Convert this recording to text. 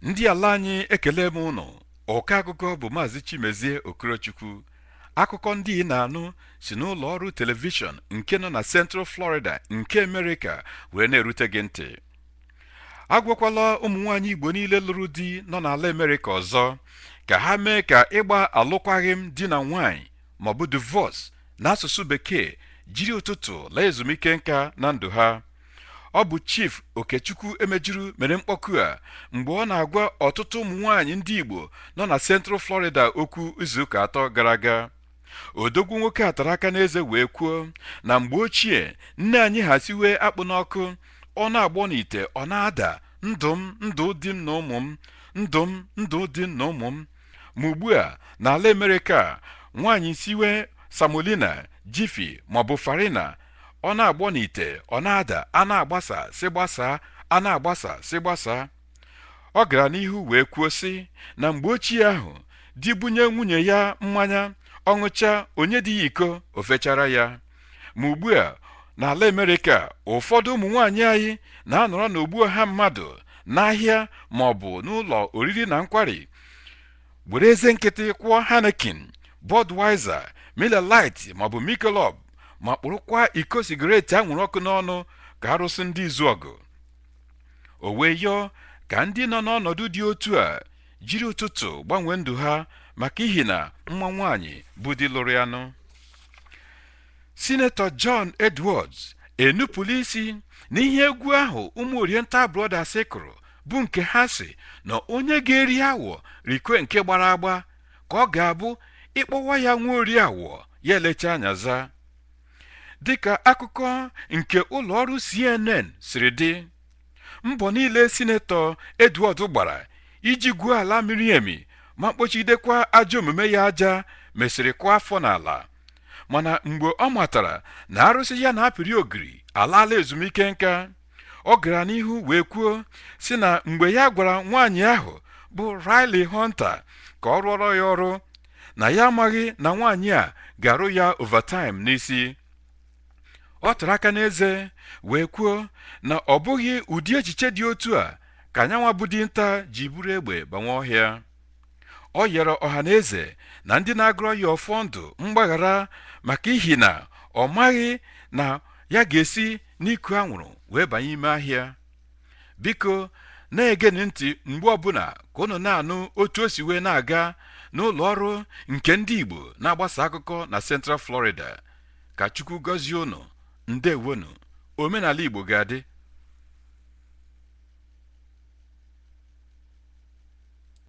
ndị ala anyị ekele m unu ọka akụkọ bụ maazị Chimezie Okorochukwu akụkọ ndị ị na-anụ si n'ụlọ ọrụ telivishọn nke nọ na Central Florida nke Amerịka wee na-erute gị ntị agwakwala ụmụ nwaanyị Igbo niile lụrụ di nọ n'ala Amerịka ọzọ ka ha mee ka ịgba alụkwaghị m di na nwaanyị maọbụ divorce n'asụsụ bekee jiri ụtụtụ laa ezumike nka na ndụ ha ọ bụ Chief Okechukwu Emejuru mere mkpọku a mgbe ọ na-agwa ọtụtụ ụmụ nwaanyị ndị Igbo nọ na Central Florida okwu izuụka atọ gara aga odogwu nwoke a tara aka n'eze wee kwuo na mgbe ochie nne anyị ha siwe akpụ n'ọkụ ọ na-agbọ n'ite ọ na-ada ndụ m ndụ di m na ụmụ m ndụ m ndụ di m na ụmụ m Ma ugbu a, n'ala Amerịka, nwaanyị siwe samolina, Jiffy maọbụ farina, ọ na-agbọ n'ite, ọ na-ada, a na-agbasa sị gbasaa, a na-agbasa sị gbasaa. Ọ gara n'ihu wee kwuo sị na mgbe ochie ahụ, di bunye nwunye ya mmanya, ọ ṅụchaa, o nye di ya iko, o fechara ya. ma ugbu a n'ala Amerịka ụfọdụ ụmụ nwaanyị anyị na-anọrọ n'ogbo ọha mmadụ n'ahịa ma ọ bụ n'ụlọ oriri na nkwari were eze nkịtị kwụọ Heineken Budweiser Miller Lite maọbụ Michelob ma kpụrụkwa iko sigaret anwụrụ ọkụ n'ọnụ ka arụsị ndị Izuọgụ o wee yọọ ka ndị nọ n'ọnọdụ dị otu a jiri ụtụtụ gbanwee ndụ ha maka ihi na mma nwaanyị bụ di lụrụ ya nụ Sinetọ John Edwards enupụla isi n'ihe egwu ahụ ụmụ Oriental Brothers kụrụ bụ nke ha sị na onye ga-eri awọ rikwe nke gbara agba ka ọ ga-abụ ị kpọwa ya nwa ori awọ ya elecha anya za dịka akụkọ nke ụlọọrụ CNN siri dị mbọ niile sinetọ Edward gbara iji gwuo ala miri emi ma kpochidekwa ajọ omume ya aja mesịrị kụọ afọ n'ala mana mgbe ọ matara na arụsị ya na-apịrị ogiri alaala ezumike nka ọ gara n'ihu wee kwuo sị na mgbe ya gwara nwaanyị ahụ bụ Rielle Hunter ka ọ rụọrọ ya ọrụ na ya amaghị na nwaanyị a ga-arụ ya overtime n'isi ọ tụrụ aka n'eze wee kwuo na ọ bụghị ụdị echiche dị otu a ka Anyanwa bụ dinta ji buru egbe banwe ọhịa ọ yọrọ ọha na eze na ndị na-agọrọ ya ọfọ ndụ mgbaghara maka ihi na ọ maghị na ya ga-esi n'iku anwụrụ wee banye ime ahịa biko na-egeni ntị mgbe ọbụla ka unu na-anụ otu o si wee na-aga n'ụlọ ọrụ nke ndị Igbo na-agbasa akụkọ na Central Florida Ka Chukwu gọzie ụnụ. Ndewonu. Omenala Igbo ga-adị.